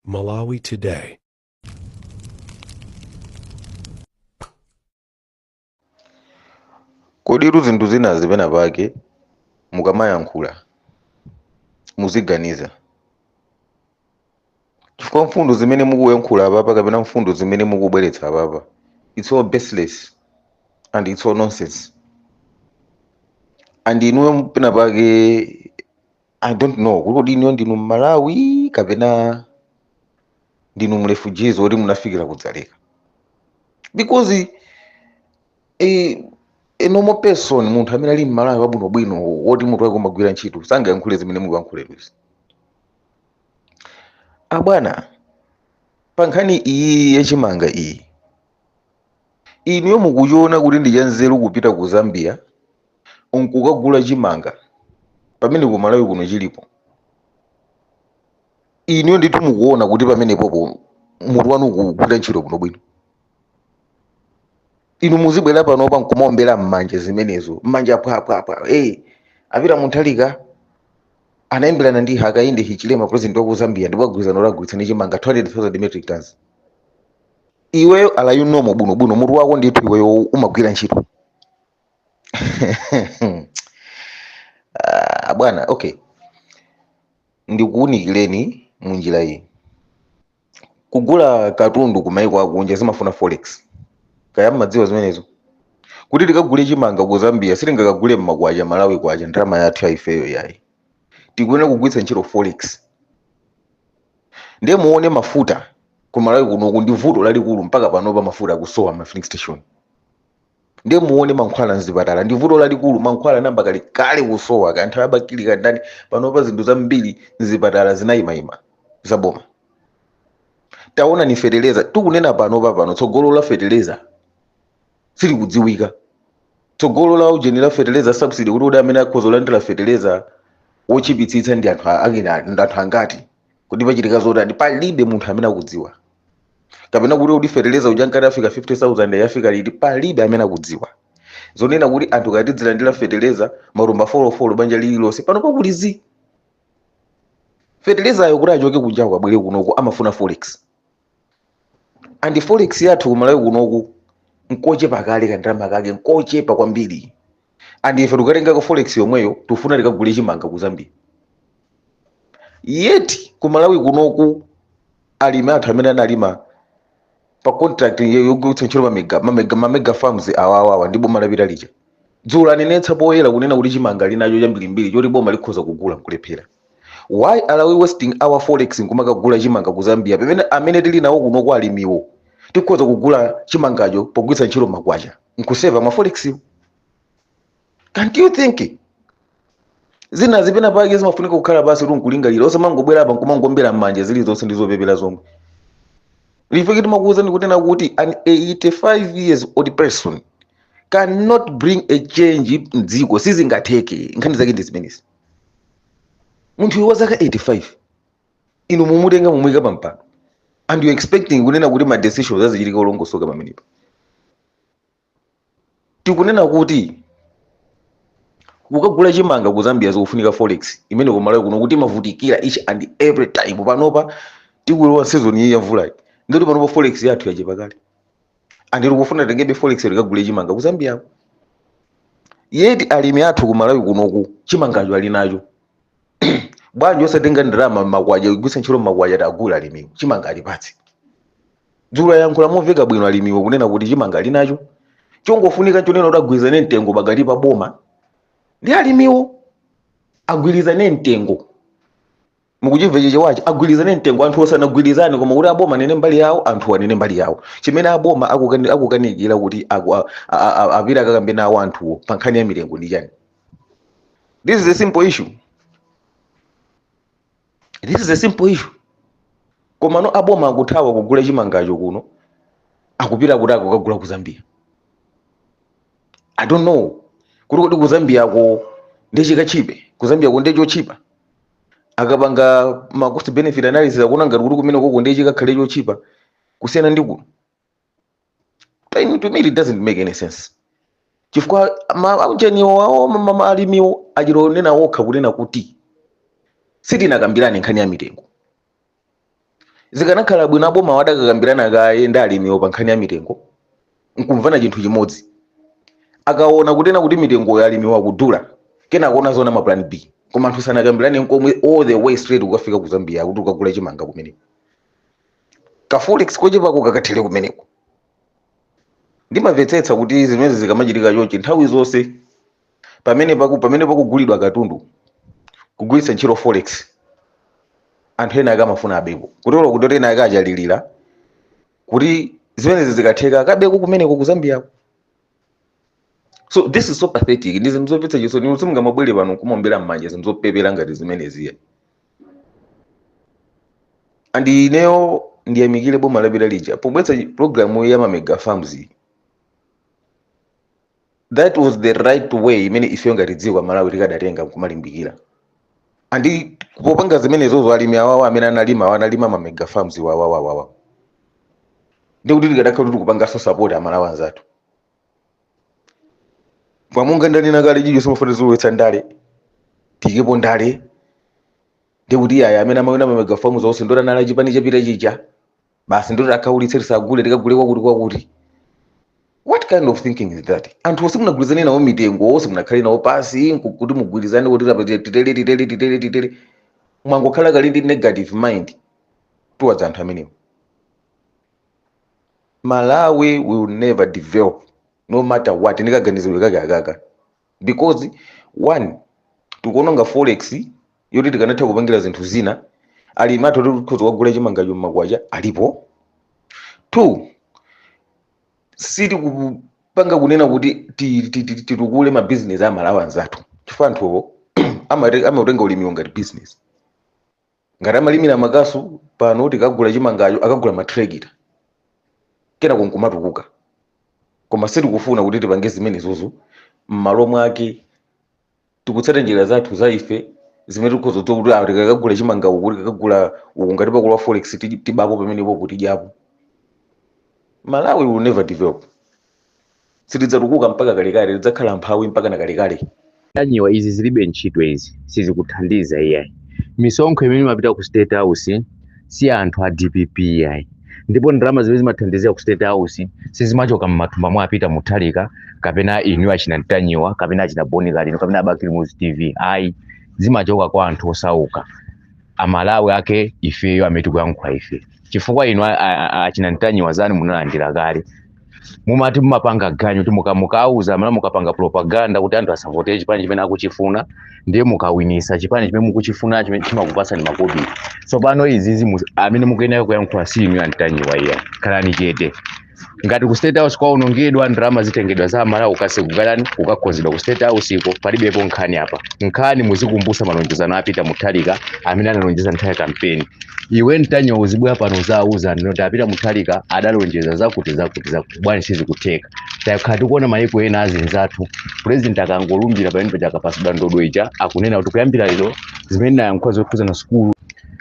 Malawi Today. koditu zinthu zina pena pake mukamayankhula muziganiza chifukwa mfundo zimene mukuyankhula apapa kapena mfundo zimene mukubweretsa apapa it's all baseless and it's all nonsense and inuyo pena pake i don't know kuti kodi inuyo ndinu mmalawi kapena ndinu mrefugees oti munafikira kudzaleka because eh, a normal person munthu amene ali mmalawi wabwinobwino woti mutu wake umagwira ntchito sangayankhule zimene mukuyankhula inuzi abwana pa nkhani iyi yachimanga iyi inuyo mukuchiona kuti ndi chanzeru kupita ku zambia nkukagula chimanga pamene ku malawi kuno chilipo inuyo ndithu mukuona kuti pamenepopo mutu wanu ukugwira ntchito bwinobwino inu muzibwera panopa nkumaombera mmanja zimenezo mmanja phwaphwaphwa hey, a Peter Mutharika anayimbirana ndi hakainde hichilema president waku zambia ndipo agwirizana atigulitsa chimanga 200000 metric tons iweyo are you normal bwinobwino mutu wako ndithu iweyo umagwira ntchito Ah, bwana okay ndikuwunikireni mu njira iyi kugula katundu ku maiko akunja zimafuna forex kaya mmadziwa zimenezo kuti tikagule chimanga ku zambia sitingakagule mmakwacha malawi kwacha ndalama yathu ya ifeyo yayi tikuyenera kugwiritsa ntchito forex ndiye muone mafuta ku malawi kunoku ndi vuto lalikulu mpaka panopa mafuta akusowa ma filling station ndiye muone mankhwala mzipatala ndi vuto lalikulu mankhwala anayamba kale kale kusowa kaya nthawi ya Bakili kaya ndani panopa zinthu zambiri mzipatala zinayimayima zaboma taona ni feteleza tikunena panopa pano tsogolo la feteleza silikudziwika tsogolo la ujeni la feteleza subsidy kuti kuti amene akhoza kulandira feteleza wotchipitsitsa ndi anthu a- akina ndi anthu angati kuti pachitika zotani palibe munthu amene akudziwa kapena kuti kuti fertilizer uja ankati afika 50000 afika liti palibe amene akudziwa zonena kuti anthu ankati tidzilandira fertilizer matumba folofolo banja lililonse pano pakuli zi fertilizer ayo kuti achoke kunjako abwere kunoku amafuna forex and forex yathu kumalawi kunoku nkochepa kale kandalama kake nkochepa kwambiri and ife tikatenga ka forex yomweyo tifuna tikagule chimanga ku zambia yet ku malawi kunoku alimi athu amene analima pa contract yo- yogwiritsa ntchito mamega mamega mamega farms awawawa ndi boma lapita lija dzulo anenetsa poyera kunena kuti chimanga ali nacho chambirimbiri choti boma likhoza kugula nkulephera why are we wasting our forex nkumakagula chimanga ku zambia pamene amene tili nawo kunoku alimiwo tikhoza kugula chimangacho pogwiritsa ntchito makwacha nkuseva ma forex can't you think zina zi penapake zimafunika kukhala basi nkulingalira osamangobwera apa nkumangombera mmanja zilizonse ndi zopepera zomwe ife timakuwuzani kunena kuti an 85 years old person cannot bring a change mdziko sizingatheke nkhani zake ndi zimenezi munthuyu wa zaka 85 inu mumutenge mumuyike pa mpando and you expecting kunena kuti ma decisions azichitika olongosoka pamenepo tikunena kuti kukagula chimanga ku zambia zikufunika forex imene kumalawi kuno imativutira each and every time panopa tikulowa season iyi ya mvulayi nkuti panopa forex yathu yachepa kale andi tikufuna titengebe forex tikagule chimanga ku zambia yet alimi athu ku malawi kunoku chimangacho ali nacho bwanji osatenga ndalama makwacha kugwiritsa ntchito makwacha kuwagula alimiwo chimanga alipa eti dzulo ayankhula momveka bwino alimiwo kunena kuti chimanga ali nacho chongofunika chonena kuti agwirizane mtengo pakati pa boma ndi alimiwo agwirizane mtengo mukuchimva chichewachi agwirizane mtengo anthu osanagwirizane koma kuti aboma anene mbali yawo anthu anene mbali yawo chimene aboma akukani- akukanikira kuti aku- a- a- a- apite akakambe nawo anthuwo pa nkhani ya mitengo ndi chani this is a simple issue this is a simple issue koma no aboma akuthawa kugula chimangacho kuno akupita kuti akakagule ku zambia i don't know kuti kodi ku zambiako nde chikatchipe ku zambiako ndi chotchipa akapanga ma cost benefit analysis akuona ngati kuti kumene koko ndiye chikakhale chotchipa kusiyana ndi kuno to me it doesn't make any sense chifukwa ma- eniake awo ma- ma- ma- alimiwo achita kunena okha kunena kuti sitinakambirane nkhani ya mitengo zikanakhala bwino aboma adakakambirana kaye ndi alimiwo pa nkhani ya mitengo nkumvana chinthu chimodzi akaona kutena kuti mitengoyo alimiwo akudula kenako nkuona zoona ma plan b koma anthu sanakambirane nkomwe all the way straight kukafika ku zambia kuti kukagula chimanga kumeneko kaforex kochepako kakathere kumeneko ndimamvetsetsa kuti zimenezi zikamachitika chonchi nthawi zonse pamene paku pamene pakugulidwa katundu kugwiritsa ntchito forex anthu ena ake amafuna abeko kutero kuti ena ake achalira kuti zimenezi zikatheka akabeko kumeneko ku zambiyako so this is so pathetic ndi zinthu zomvetsa chisoni inu simungamabwere pano nkumaombera mmanja zinthu zopepera ngati zimenezi ayi and ineyo ndiyamikire boma lapita lija pobweretsa programu ya mamega farms iyi. that was the right way imene ifeyo ngati dziko amalawi tikadatenga kumalimbikira and kupanga zimenezozo alimi awawa amene analima awa analima ma mega farms iwo awawawawa ndi kuti tikadakhala kuti tikupanganso support amalawi anzathu monga ndanena kale chifukwa timafuna kulowetsa ndale tiikepo ndale ndi kuti awa amene amaowna ma mega farms onse ndiye kuti anali achipani chapita chija basi ndiye kuti tiwakhaulitse tisagule tikagule kwakuti kwakuti what kind of thinking is that anthuwo simunagwirizane nawo mitengo simunakhale nawo pansi nku- kuti mugwirizane kuti tapa- titere titere titere titere mwangokhala kale ndi negative mind towards anthu amenewo malawi will never develop no matter what ndikaganizidwe kake akaka because one tikuononga forex yoti tikanatha kupangira zinthu zina alimi athu oti tikhoza kugula chimangacho mmakwacha alipo two sitikupanga kunena kuti ti- ti- ti- titukule mabizinesi a malawi anzathu chifukwa anthuwo amate- amautenga ulimiwo ngati business ngati amalimira makasu pano tikagula chimangacho akagula matrekita kenako nkumatukuka koma sitikufuna kuti tipange zimenezozo m'malo mwake tikutsata njira zathu za ife zimene tikudziwa kuti awo tikakagula chimanga uku tikakagula uku ngati pakugula forex ti- tibapo pamenepo kuti tidyapo malawi will never develop sitidzatukuka mpaka kalekale tidzakhala amphawi mpaka na kalekale ntanyiwa izi zilibe ntchito izi sizikuthandiza iyayi misonkho imene imapita ku state house si ya anthu a dpp iyayi ndipo ndalama zimene zimathandizira ku state house sizimachoka m'mathumba mwa a peter mutharika kapena inu achina ntanyiwa kapena achina bon kalindo kapena a bakili muluzi tv ayi zimachoka kwa anthu osauka amalawi ake ifeyo amene tikuyankhula ife chifukwa inu a- a- a- achina ntanyiwa zanu munalandira kale mumati mumapanga ganyu kuti mukawauza amalawi mukapanga propaganda kuti anthu asavotere chipani chimene akuchifuna ndiye mukawinisa chipani chimene mukuchifuna chimene chimakupatsani makobiri tsopano izizi mu- amene mukuyenera kuyankhula si inu a ntanyiwa iyayi khalani chete ngati ku state house kwaonongedwa ndalama zitengedwa za amalawi kukasegulani kukakonzedwa ku state house iko palibepo nkhani apa nkhani muzikumbutsa malonjezano a peter mutharika amene analonjeza nthawi ya kampeni iwe ntanyiwa uzibwera pano uziwauza anthu kuti a peter mutharika adalonjeza zakuti zakuti zakuti bwana sizikutheka takhala tikuona mayiko ena anzathu president akangolumbira pamene paja akapatsidwa ndodo ija akunena kuti kuyambira lero zimene nayankhula zokhudzana sukulu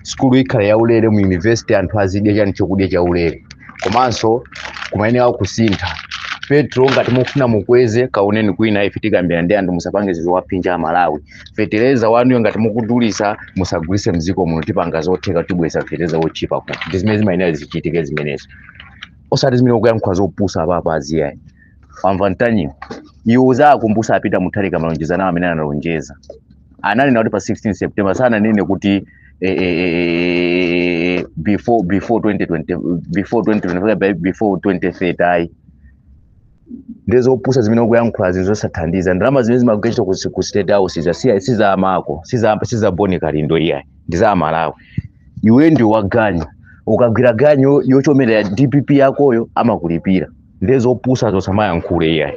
sukulu ikhala yaulere mu university anthu azidya chani chokudya chaulere komanso kumeneko kusintha petrol ngati mufuna mukweze kaoneni kwina ife tikambira ndi anthu musapange zizowaphinja amalawi fetereza wanuyo ngati mukudulisa musagulise mdziko muno tipanga zotheka tibweretsa fetereza wotchipa ku ndi zimene zimayenera zichitike zimenezo osati zimene ukuyankhula zopusa apapa aziyayi wamva Mtanyiwa iwe uziwakumbutsa a Peter Mutharika malonjezano awo amene analonjeza ananena kuti pa 16 september sananene kuti eh, eh, eh, eh, eh, before before 2020 before 2020 before 2030 ayi ndi zopusa zimene ukuyankhula zinthu zosathandiza ndalama zimene zimagwira ntchito ku, ku state house za si si za amako si za si za boni kalindo iyayi ndi za amalawi iwe ndi waganyu ukagwira ganyu yochomera ya dpp yakoyo amakulipira ndi zopusa usamayankhule iyayi